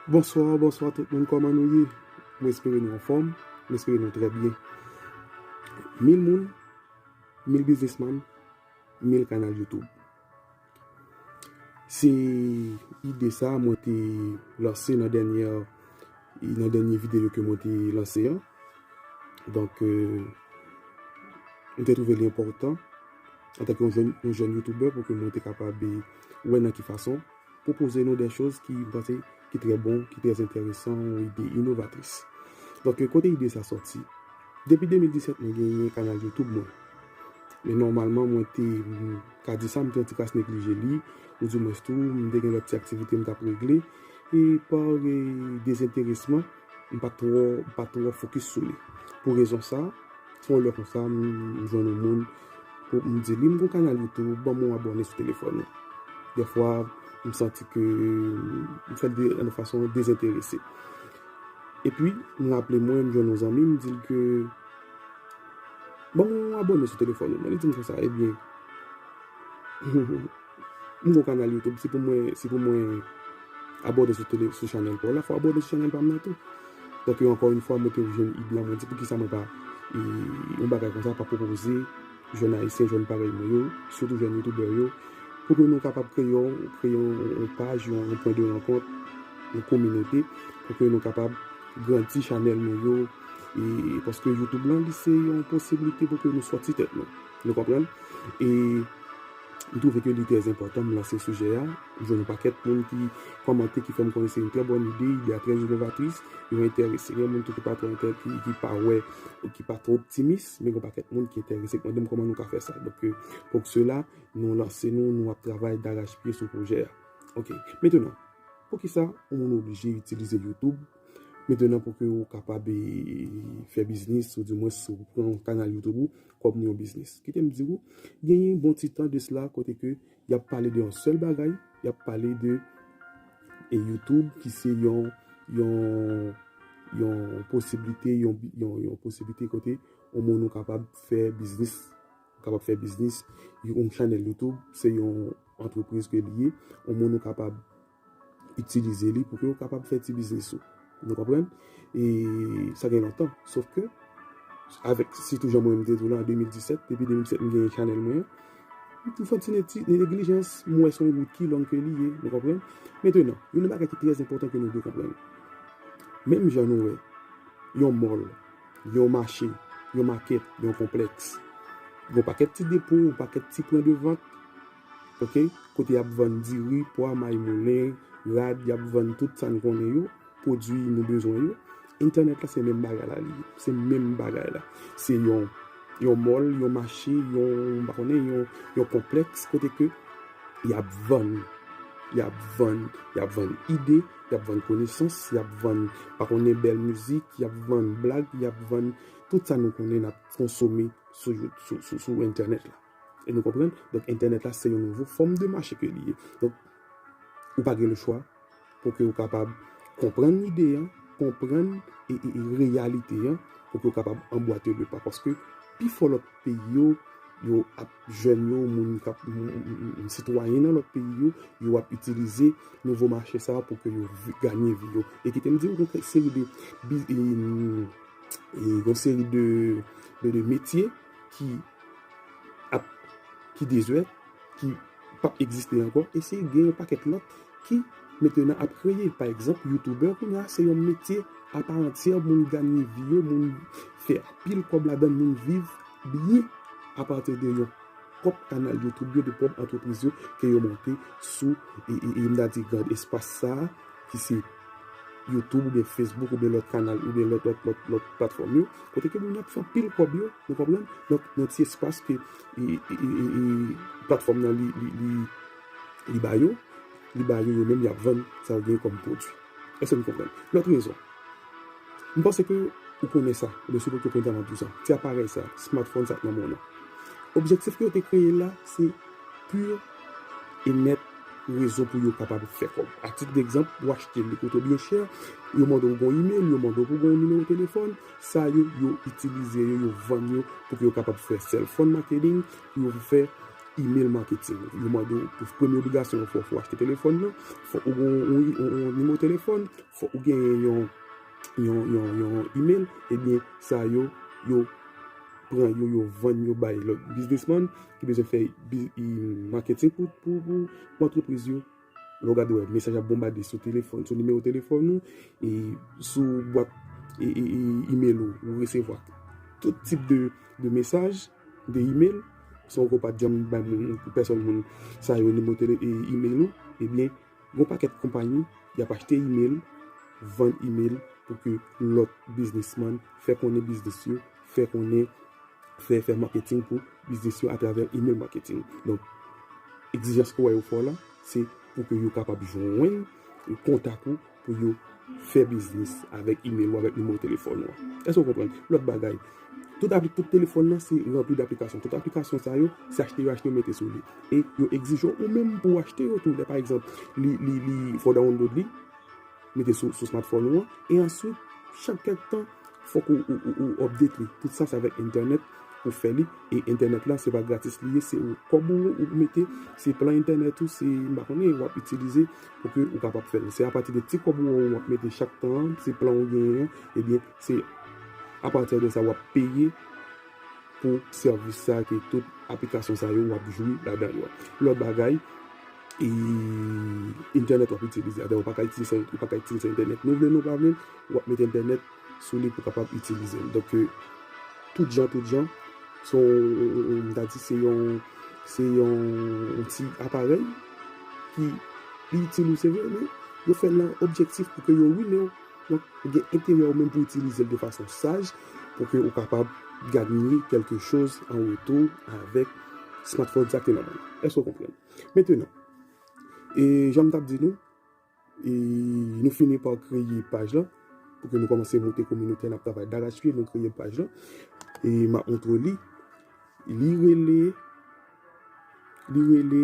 Bonsoir bonsoir tout moun koman nou ye m espere nou anfom m espere nou trè byen mil moun mil biznis man mil kanal youtube se ide sa mwen te lanse nan dènyè nan dènyè videyo ke mwen te lanse an donk euh, m te trouve li enpòtan antanke yon jèn youtubè pou ke mwen te kapab wè nan ki fason pwopoze nou de choz ki m panse ki trè bon, ki trè enteresan, yon ide inovatris. Donk kote ide sa sòti? Depi 2017 mwen genyen kanal YouTube mwen. Men nòmalman mwen te ka di sa m te yon ti kras neglije li, ou di mwens tou m te gen lòt ti aktivite m t ap regle e pa dezenteresman, M pa twò m pa twò fokis sou li. Pou rezon sa, yon lè konsa m jwenn yon moun pou m di li m gon kanal YouTube banm yon abòne sou telefòn ou. Dèfwa m santi ke m fè l de yon fason dezenterese. Epi m raple mwen m jwenn yon zanmi m di l ke banm yon abòne sou telefòn ou mwen li di m konsa ebyen. M gon kanal YouTube si pou mwen si pou mwen abòne sou tele sou chanèl paw la fò abòne sou chanèl pam nan tou donk yo ankò yn fwa mwen te ouvri yon id lan mwen di poukisa mwen pa yon bagay konsa pa pwopoze jèn ayisyen jèn parèy mwen yo sitou jèn youtubè yo pou ke nou kapab kreye yon kreye yon paj yon pwen de rankont yon kominote pou ke nou kapab grandi chanèl nou yo e paske YouTube lan li se yon posiblite pou ke nou sòti tèt nou nou konprann e. M twouve ke li trè enpòtan m lanse sijè a. M jwenn yon pakèt moun ki kòmante, ki fè m konnen se yon trè bòn ide, ide a trè inovatris, yo enterese. Gen moun tou ki pa twò enterese, ki pa wè, ki pa twò optimis, men gen yon pakèt moun ki enterese, ki mande m kòman nou ka fè sa. Donk, pou sela, nou lanse nou, nou ap travay darachpye sou pwojè a. Ok. Metenan, poukisa yon moun oblije itilize YouTube metenan pou ke ou kapab fè biznis ou dimwens ou pran kanal YouTube ou kòm yon biznis. Kite m di ou, gen yon bon ti tan de sla kote ke y ap pale de yon sèl bagay, y ap pale de e YouTube ki se yon yon posiblite yon posiblite kote yon moun ou kapab fè biznis ou kapab fè biznis yon chanèl YouTube se yon antrepriz ke li ye yon moun ou kapab Itilize li pou ke ou kapab fè ti biznis ou. Nou konprann? E sa gen lontan. Sof ke, avèk sitou jan mwen m te di w lan an 2017, depi 2017 m genyen chanèl mwen an, m te fè ti neglijans, m wè se yon wout ki long ke li ye. Nou konprann? Mentenan, gen yon bagay ki trè enpòtan ke nou dwe konprann. Menm jan nou wè yon mòl, yon mache, yon makèt, yon konplèks, gen yon pakèt ti depo, yon pakèt ti pwen de vant. Ok kote yap vann diri, pwa, may moulen, rad yap vann tout sa n konnen yo, pwodwi nou bezwen yo, entènèt la se menm bagay la li ye, se menm bagay la, se yon yon mòl, yon mache, yon m pa konnen yon yon konplèks kote ke yap vann yap vann yap vann ide, yap vann konesans, yap vann pa konnen bèl mizik, yap vann blag, yap vann tout sa nou konnen nap konsome sou entènèt la. E nou konprann, donk entènèt la se yon nouvo fòm de mache ke li ye. Donk, ou pa gen le chwa pou ke ou kapab konprann lide an, konprann reyalite an, pou ke ou kapab anbwate le pa. Paske, pi fò lòt peyi yo, yo ap jèn yo, moun kap, sitwayen nan lòt peyi yo, yo ap itilize nouvo mache sa pou ke yo ganye vi yo. E kite m di ou gen kèk seri de, gen seri de metye. ki ap ki dezè, ki pap egziste ankò, e se gen yon pakèt lòt ki mete nan ap kreye. Pa egzanp, youtubè kounya se yon metye apa antyè, moun ganye vi yo, moun fè anpil kòb ladan, moun viv byen apati de yon pwòp kanal youtube yo, de pwòp antrepriz yo ke yo monte sou, m ta di, gad espas sa a ki se. YouTube oubyen Facebook oubyen lòt kanal oubyen lòt lòt lòt lòt platfòm yo kote ke moun yo ap fè anpil kòb yo nou konprann donk nan ti espas ke platfòm nan li li li li ba yo li ba yo yo menm yap vann sa yo gen kòm pwodui èske nou konprann lòt rezon m panse ke ou konnen sa oubyen si ou poko konprann map di w sa ti aparèy sa smartphone sa nan men w lan objektif ke yo te kreye l la se pu e mèt rezon pou yo kapab fè kòb. Atitdegzanp, ou achte li kote byen chè, yo mande w gen imel, yo mande w pou gen yon nimewo telefòn, sa yo, yo itilize yo, yo vann yo pou yo kapab fè sèlfòn maketing, pou yo fè imel maketing. Yo mande w, pou premye obligasyon yo fè w, fò w achte telefòn nan, fòk ou gen yon nimewo telefòn, fòk ou gen yon imel, ebyen sa yo, yo pran yo, yo vann yo bay lòt biznismann. ki bezwen fè marketing pou entreprise yo lè w gade wè mesaj ap bonbade sou telefon sou nimewo telefon ou e sou bwat email ou ou resevwa tout tip de mesaj de email san w ko pa janm bay moun pou pèson moun sa yo nimewo email ou ebyen Gon pakèt konpayi yap achte email, vann email pou ke lòt biznisman fè konnen biznis yo, fè konnen, fè fè marketing pou biznis yo atravè email marketing. Donk, egzijans ou wè yo fè w la, se pou ke yo kapab jwenn kontak ou pou yo fè biznis avèk email ou, avèk nimewo telefòn ou an. Èske ou konprann? Lòt bagay. Tout avk tout telefòn nan se ranpli daplikasyon. Tout aplikasyon sa yo, se achte yo achte yo mete sou li. E yo egzije w ou menm pou w achte yo tou. Lè pa egzanp, li fò download li, mete sou smartphone ou an. E answit, chak kèk tan, fòk ou update li. Tout sa se avèk entènèt ou fè li. E entènèt la, se pa gratis li ye. Se yon kòb ou mete, se plan entènèt ou, se m pa konnen, w ap itilize pou ke ou kapab fè li. Se apati de ti kòb ou an ou ap mete chak tan an, se plan ou genyen an, ebyen, Se a partir de sa wap peye pou service sa ke tout aplikasyon sa yo wap jwi ladan yo. Lot bagay e internet wap itilize avè ou paka itilize internet nou vle nou pa vle wap mete internet sou li pou kapab itilize l. Donk tout jan tout jan son m ta di se yon se yon ti aparèy ki li itil ou se vre men yo fè l nan objektif pou ke yo rwinew. Donk, ou gen enterè ou menm pou itilize l de fason saj pou ke ou kapab gagner quelque chose en retour avèk smartphone sa ki te nan men w lan. Èske ou konprann? Mentenan, e jan m t ap di nou, e nou fini pa kreye paj lan pou ke nou kòmanse monte kominote a, n ap travay darachpye, nou kreye paj lan e m ap montre w li. Li rele, li rele.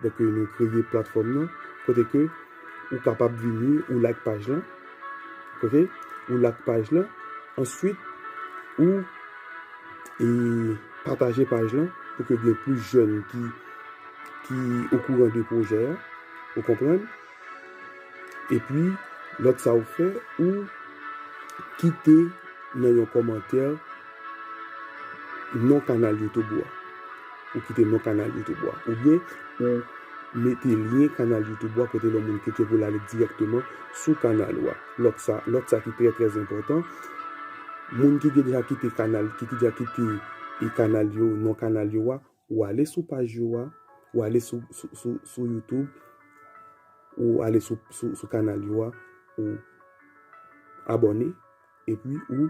Donk nou kreye platfòm nan kote ke ou kapab vini, ou like paj lan, ok, ou like paj lan, answit ou e pataje paj lan pou ke gen plis jèn ki okouran de pwojè a, ou konprann? Epi lòt sa ou fè ou kite nan yon kòmantè non kanal YouTube ou a. Ou kite non kanal YouTube ou a. Ou byen ou mete lyen kanal YouTube ou a kote lè moun klike pou l ale direkteman sou kanal ou a. Lòt sa, lòt sa ki trè trè enpòtan, moun ki deja kite kanal, ki deja kite kanal yo, non kanal yo a, Ou ale sou paj yo a, ou ale sou youtube, ou ale sou kanal yo a, ou abòne, epi ou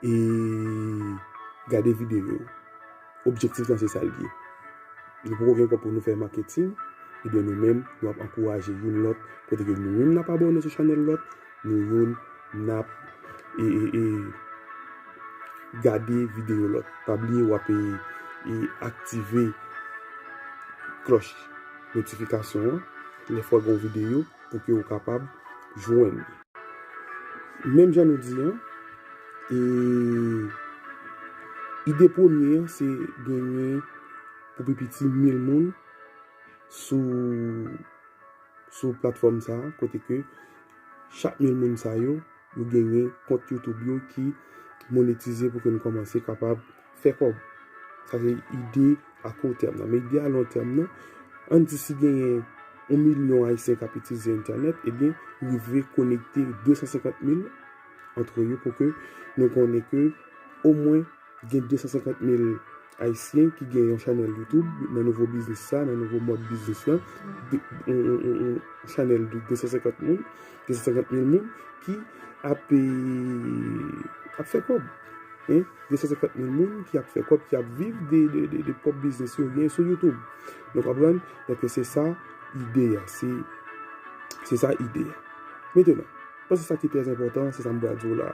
e gade videyo yo. Objektif lan se sa l ye. Nou poko gen kòb pou nou fè maketing, ebyen nou menm nou ap ankouraje youn lòt kote ke nou menm n ap abòne sou chanèl lòt. Nou youn nap gade video lòt. Pa bliye wap aktive klòch notifikasyon an lè fwa gen yon video pou ke ou kapab jwenn li. Menm jan nou di an, ide premye an se genyen pou pi piti mil moun sou. sou platfòm sa a kote ke chak mil moun sa yo, yo genyen kont YouTube yo ki monetize pou ke nou kòmanse kapab fè kòb. Sa se ide a kou tèm nan. Men ide a lon tèm nan, an di si genyen yon milyon Ayisyen k ap itilize entènèt, ebyen rive konekte 250 mil antre yo pou ke nou konnen ke omwen Gen 250 mil Ayisyen ki gen yon chanèl YouTube nan nouvo biznis sa, nan nouvo mòd biznis lan. Yon chanèl de 250 moun, 250 mil moun ki ap fè kòb. 250 mil moun ki ap fè kòb, ki ap viv de pwòp biznis yo gen sou YouTube. Nou konprann? Donk se sa ide a. Se sa ide a. Mentenan. Bon se sa ki trè enpòtan, se sa m pral di w la.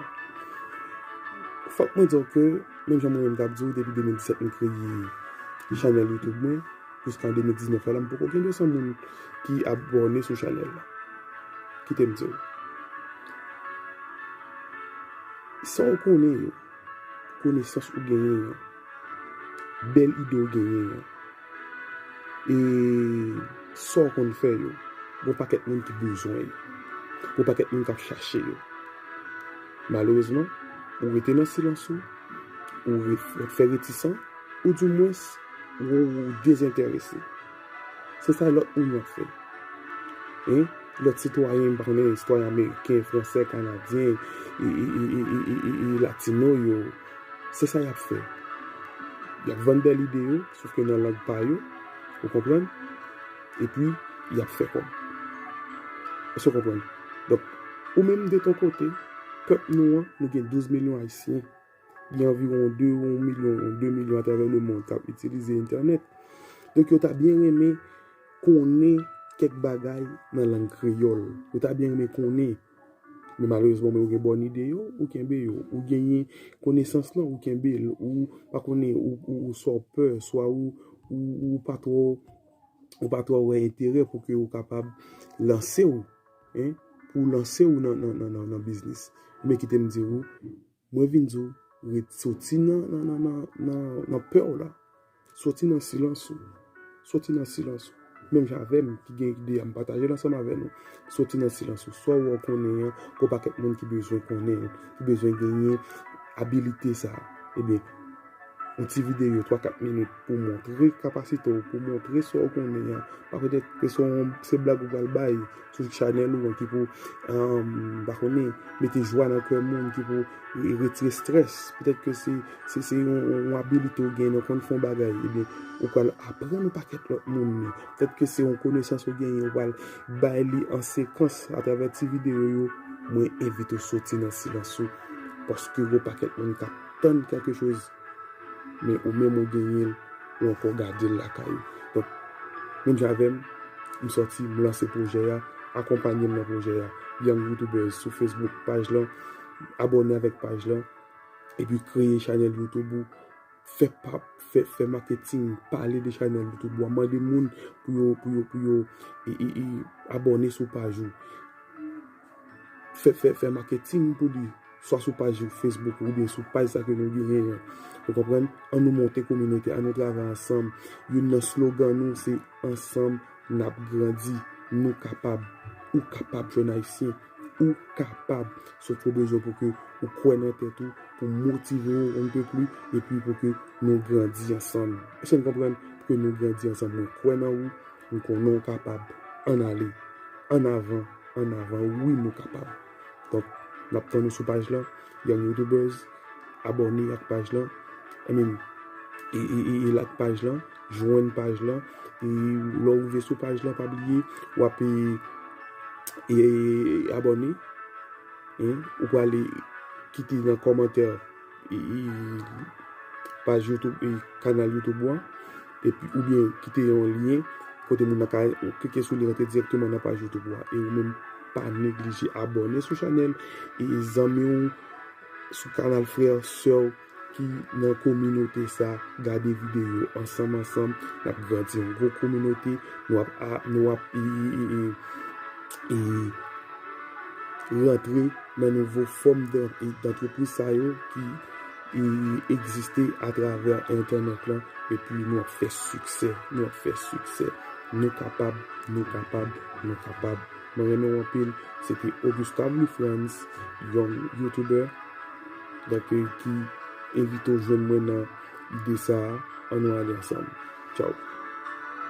Fòk mwen di w ke, menm jan mwen menm t ap di w depi 2017 m kreye chanèl youtube mwen, jiska 2019 la la m poko gen 200 moun ki abòne sou chanèl la. Kite m di w. Sa w konnen yo, konesans ou genyen yo, bèl ide w genyen yo. E sa w konn fè yo? Gen yon pakèt moun ki bezwen yo. Gen yon pakèt moun k ap chache yo. Malerezman, ou rete nan silans ou, ou fè retisan, ou di mwens ou dezenterese. Se sa lòt moun yo ap fè. Lòt sitwayen, m pa konnen, sitwayen ameriken, fransè, kanadyen, latino yo. Se sa y ap fè. Y ap vann bèl ide yo, sof ke nan lang pa yo. Ou konprann? Epi, y ap fè kòb. Èske w konprann? Donk, ou menm de ton kote, pèp nou an, nou gen 12 milyon Ayisyen. Gen anviwon 2 ou 1 milyon, 2 milyon atravè lemonn k ap itilize entènèt. Donk, yo ta byen renmen konnen kèk bagay nan lang kreyòl. Yo ta byen renmen konnen. Men malerezman men ou gen bòn ide yo, ou kenbe yo. Ou genyen konesans lan, ou kenbe l. Ou pa konnen ou sa w pè, swa ou pa twò ou pa twò wè enterè pou ke ou kapab lanse w pou lanse w nan biznis. Men kite m di ou. Mwen vin di w ret soti nan pè w la. Soti nan silans ou. Soti nan silans ou. Menm jan avè m ki gen ide a m pataje l ansanm avè nou. Soti nan silans ou. Sa w wè w konnen an, gen yon pakèt moun ki bezwen konnen, ki bezwen genyen abilite sa a. Ebyen. Yon ti videyo 3, 4 minit pou montre kapasite w, pou montre sa w konnen an. Pa petèt ke se yon se blag ou pral bay sou chanèl ou an ki pou, m pa konnen, mete jwa nan kè moun, ki pou retire strès. Petèt ke se se yon abilite ou genyen, ou konn fè yon bagay, ebyen ou pral aprann yon pakèt lòt moun li. Petèt ke se yon konesans ou genyen, ou pral bay li an sekans atravè ti videyo yo. Mwen envite w soti nan silans ou paske gen yon pakèt moun k ap. tann kèlke choz men ou menm ou genyen l ou ankò gade l lakay ou donk menm jan avè m m sòti m lanse pwojè a akonpanye m nan pwojè a Young Youtubers sou Facebook paj lan abòne avèk paj lan epi kreye chanèl Youtube ou fè pa fè maketing pale de chanèl Youtube ou a mande moun pou yo pou yo pou yo abòne sou paj ou. Fè maketing pou li, swa sou paj Facebook ou oubyen sou paj sa ke nou genyen an. Ou konprann? An nou monte kominote, an nou travay ansanm. Youn nan slogan nou se ansanm n ap grandi. Nou kapab. Ou kapab jèn ayisyen. Ou kapab. Sot yo bezwen pou ke ou kwè nan tèt ou, pou w motive w yon tou pli epi pou ke nou grandi ansanm. Èske n konprann? Pou ke nou grandi ansanm. Mwen kwè nan ou. M konnen w kapab. Ann ale. Ann avan. Ann avan. Wi nou kapab. Donk, n ap tann ou sou paj lan. Young Youtubers, abòne ak paj lan. I mean, e like paj lan. Jwenn paj lan. E lè w rive sou paj lan, pa bliye w ap abòne. Ou prale kite nan kòmantè. paj youtube e kanal youtube ou an epi ou byen kite yon lyen kote moun nan ka klike sou li rantre direktman nan paj youtube ou an e ou menm pa neglije abòne sou chanèl e zanmi ou sou kanal frè ou sè ou ki nan kominote sa gade videyo ansanm ansanm nap grandi yon gwo kominote nou ap nou ap e rantre nan nouvo fòm d'antrepriz sa yo ki egziste atravè entènèt lan epi nou ap fè siksè, nou ap fè siksè. Nou kapab, nou kapab, nou kapab. Mwen renmen w anpil. Se te Augustin Louis Frantz, yon YouTuber dèke ki envite w jwenn mwen nan ide sa a. An nou ale ansanm. Tchaw!